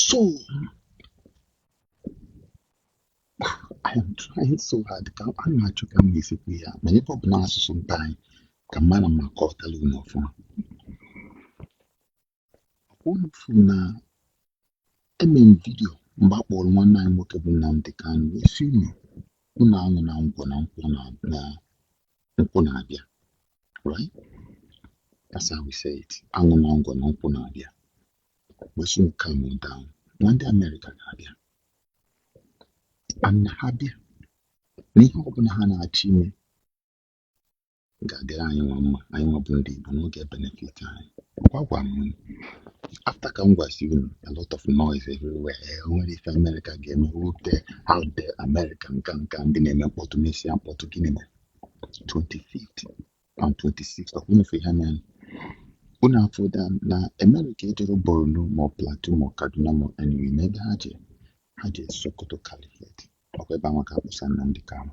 So I am trying so hard ka a na-achọ ka m ga-esi kwu ya ma ebe ọ bụ na asụsụ mba anyị ka m mara ma kọtara unu ọfụma unu fụ na eme m vidio mgbe a kpọrọ nwanne anyị nwoke bụ Nnamdi Kanu wee sị unu unu aṅụna ngwọ na nkwụ na na nkwụ na-abịa right that's how we say it aṅụna ngwọ na nkwụ na-abịa we should calm down na ndị Amerịka ga-abịa and ha bịa na ihe ọbụla ha na-achọ ime ga-adịrị anyị nwa mma anyị nwa bụ ndị Igbo na ọ ga benefit anyị kwa agwa m After ka m gwasị unu a lot of noise everywhere o nwere ife Amerịka ga-eme wute how dare America nka nka ndị na-eme mkpọtụ mesịa mkpọtụ gịnị mere 25th and 26th of unu fụ ihe a na unu afụla na Amerịka ejerọ Borno ma ọ Plateau ma ọ Kaduna ma ọ anywhere na ebe ha je ha je Sokoto Caliphate ọkwa ebe anwa ka a kpụsa Nnamdi Kanu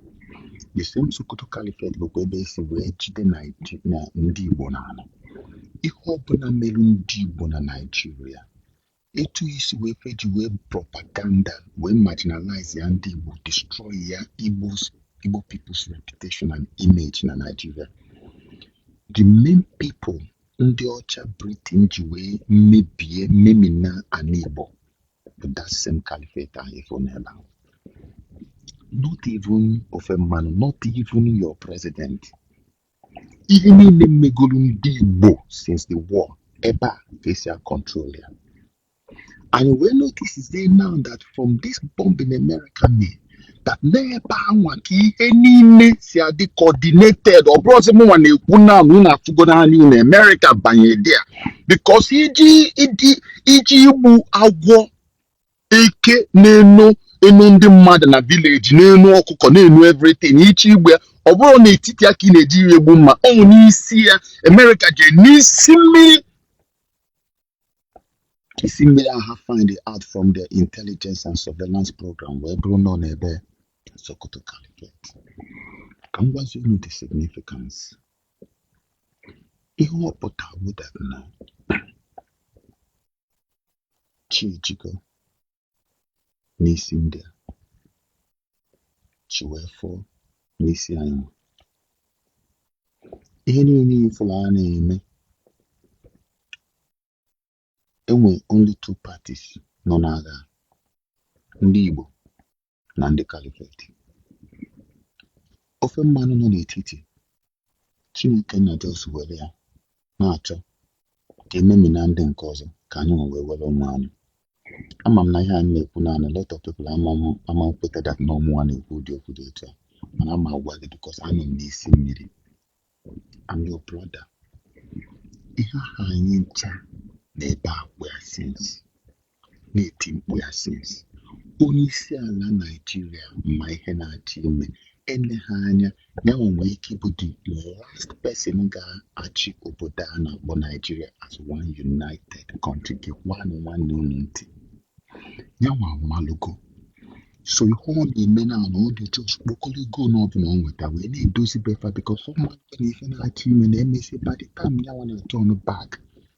the same Sokoto Caliphate bụkwa ebe e si wee jide Naiji- na ndị Igbo n'ana ihe ọbụla merụ ndị Igbo na Naịjirịa etu e si wee feji wee propaganda wee marginalize ya ndị Igbo destroy ya Igbo's Igbo people's reputation and image na Naịjirịa the main people ndị ọcha Britain ji wee mebie memina ana Igbo bụ that same caliphate ahụ ị fụ n'ebe ahụ not even ofe mmanụ not even your president ihe niile megolu ndị Igbo since the war ebe a ka e si a control ya anyị wee notice-zie now that from this bombing America mee that n'ebe anwa ka ihe niile si adị coordinated ọ bụrọzị mụnwa na-ekwu na unu afụgo n'anya unu Amerịka banye there because ị je ị je ị je igbu agwọ eke na-eno eno ndị mmadụ na village na-eno ọkụkọ na-eno everything ị je igbu ya ọ bụrọ n'etiti ya ka ị na-eji ya egbu mma ọ bụ n'isi ya Amerịka jee n'isi mmiri isi mmiri ahụ ha find out from their intelligence and surveillance program wee bụrụ nọ n'ebe Sokoto Caliphate ka m gwazie unu the significance ihe ọ pụtara bụ that na chi ejigo n'isi ndị a chi wee foo n'isi anyị ihe niile ị fụlụ a na-eme e nwe only two parties nọ n'agha ndị Igbo na ndị kalifet ofe mmanụ nọ n'etiti chineke na just were ya na-achọ ka e memina ndị nke ọzọ ka anyị nwe wee were ụmụ anyị ama m na ihe anyị na-ekwu na a lot of people ama m- ama ekweta dat na ọ mụnwa na-ekwu ụdị okwu dị otu a mana ama agwa gị bikos anọ m n'isi mmiri I'm your brother ihe ahụ anyị ncha na-ebe akwa ya since na-eti mkpu ya sins onye isi ala Naijiria ma ihe na-achọ ime eleghị anya ya nwa nwee ike ịbụ the last person ga-achị obodo a na-akpọ Naijiria as one united country gekwanụ nwanne unu ntị ya nwa amalugo so ihe ọ na-eme now ọ dị just kpokọrọ ego na ọ bụla ọ nweta wee na-edozi befa bikos ọ ma na ife na-achọ ime na emesi by the time ya nwa na-aturn back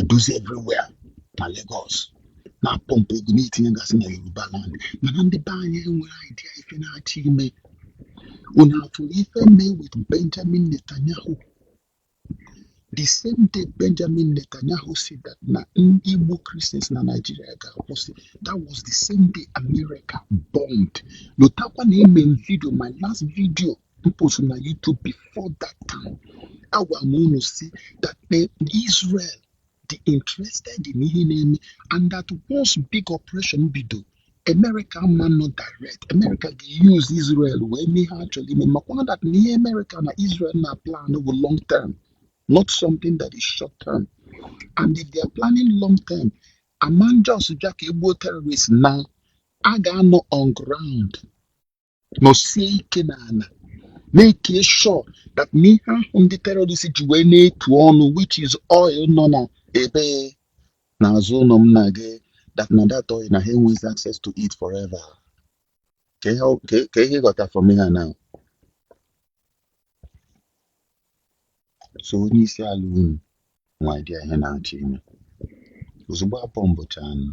edozi everywhere na Lagos na-apọmpụ ego na-etinye gasị na Yoruba land mana ndị be anyị enwerọ idea ife na-achọ ime unu afụrụ ife mee with Benjamin Netanyahu the same day Benjamin Netanyahu said that na igbu Christians na Nigeria ga-akwụsị that was the same day America bombed lotakwa na eme m video my last video post na YouTube before that time agwa m unu sị that Israel dị interested in ihe na-eme and that once big operation bido America ama anọ direct America ga-use Israel wee mee ihe ha chọrọ ime makwa na that na ihe America na Israel na-aplan bụ long term not something that is short term and if they are planning long term ama just bịa ka e gbuo terrorist na ha ga-anọ on ground nọsie ike n'ala make sure that na ihe ahụ ndị terọrist ji wee na-etu ọnụ which is oil nọ na ebe n'azụ ụlọ m na gị that na that oil na ha enweghị access to it forever ka ihe ọ- ka- ka ị ghọta from here now so onye isi ala unu nwe idea ihe na-achọ ime ozugbo a bọmbụchaa nụ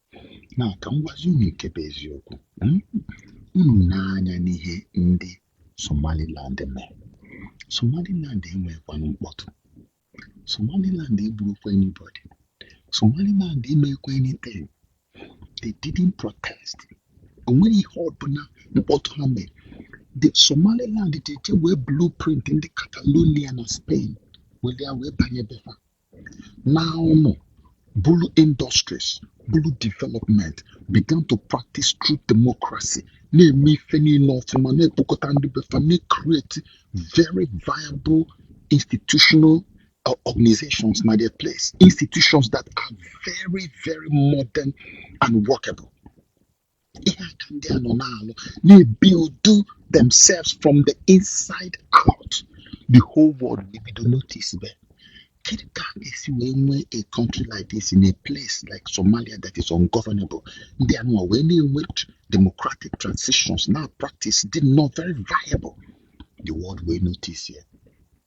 na ka m gwazi unu nke bụ eziokwu hmm? unu nee anya n'ihe ndị Somaliland mere Somaliland enweghịkwanụ mkpọtụ Somaliland egburọkwa anybody Somaliland emekwa anything they didn't protest onweghị ihe ọbụla mkpọtụ ha mere the Somaliland jee were blueprint ndị Catalonia na Spain were ya wee banye befa Now, no. Bulu industries, Bulu development began to practice true democracy. Na-eme ife niile ọfụma na-ekpokọta ndị befa na-create very viable institutional uh, organizations na their place. Institutions that are very, very modern and workable. ihe a ka ndị a nọ na-alụ na-ebuild themselves from the inside out the whole world ebido notice be kedu ka a ga-esi wee nwee a country like this in a place like Somalia that is ungovernable ndị a nọ wee na-enwe democratic transitions na practice dị nnọọ very viable the world will notice ya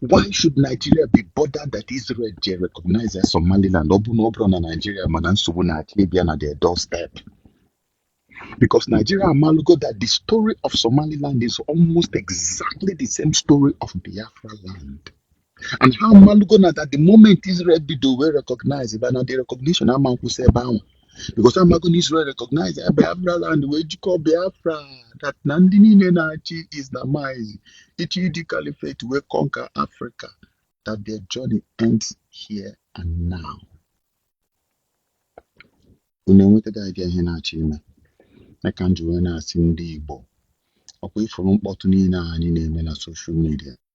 Why should Nigeria be bothered that Israel je recognizes Somaliland? Ọ bụrụ na ọ bụrọ na Nigeria ma na nsogbu na-achọ ịbịa na their doorstep. Because Nigeria amalugo that the story of Somaliland is almost exactly the same story of Biafra land. And ha amalugo na that the moment Israel bido wee recognizeba, na the recognition ama nkwụsị ebe ahụ. because amago na Israel recognize ya Biafra land wee jikọọ Biafra that na ndị niile na-achọ ị Islamize iji the caliphate wee conquer Africa that their journey ends here and now. Unu enwetago idea ihe na-achọ ime ya ka m ji wee na-asị ndị Igbo ọkwa ifuru mkpọtụ niile a anyị na-eme na social media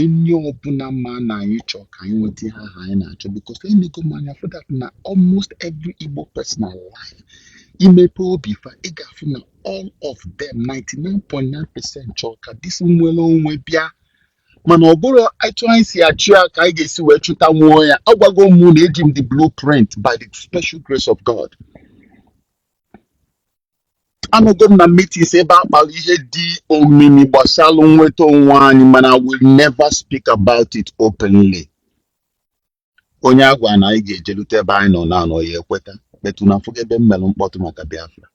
onye ọbụla ma na anyị chọọ ka anyị nweta ihe ahụ anyị na-achọ because enego m anya fụ that na almost every Igbo person alive imepe obi fa ị ga-afụ na all of them 99.9 percent chọọ ka this nwere onwe bịa mana ọ bụrọ etu anyị si achụ ya ka anyị ga-esi wee chụtanwuo ya agwago m na eji m the blueprint by the special grace of God anọgo m na meetings ebe a kpara ihe dị omimi gbasara nnweta onwe anyị mana I will never speak about it openly onye a gwa na anyị ga-ejelute ebe anyị nọ now ọ ya ekweta but unu afụgo ebe m mere mkpọtụ maka Biafra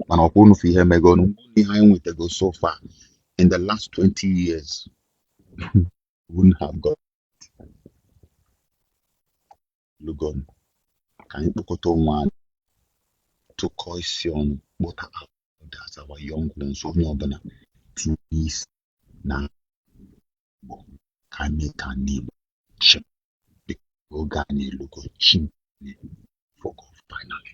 mana ọkwa unu fụ ihe megonu ihe anyị nwetago so far in the last 20 years wouldn't have got lugonu ka anyị kpọkọta onwe anyị tụkọọ isi ọnụ kpọta that's our young ones onye ọbụla tinye isi na Igbo ka anyị mee ka ndị Igbo chịa oge anyị elugo chi efogo finally